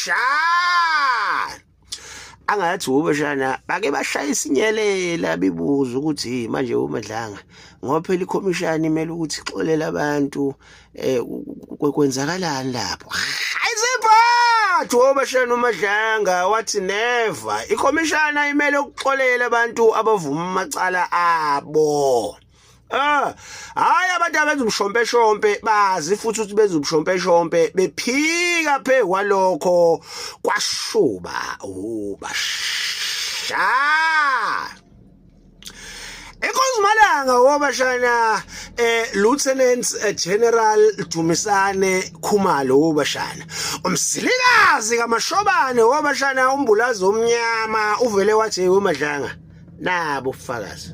Shan! Angathi ube shana bake bashaya isinyelela bibuza ukuthi manje uMadlanga ngoba phela ikhomishani imele ukuthi ixolele abantu eh kwenzakalani lapho. Ayiziphathi oba shana uMadlanga wathi never ikhomishani ayimele ukuxolela abantu abavuma amacala abo. Ah, hayi abantu abenza umshompeshompe bazi futhi ukuthi benza umshompeshompe bephika phe kwalokho kwashuba ubasha. Inkosi Malanga wobashana eh Lieutenant eh, General Dumisane Khumalo wobashana umsilikazi kamashobane wobashana umbulazi omnyama uvele wathi wemadlanga nabo ufakazi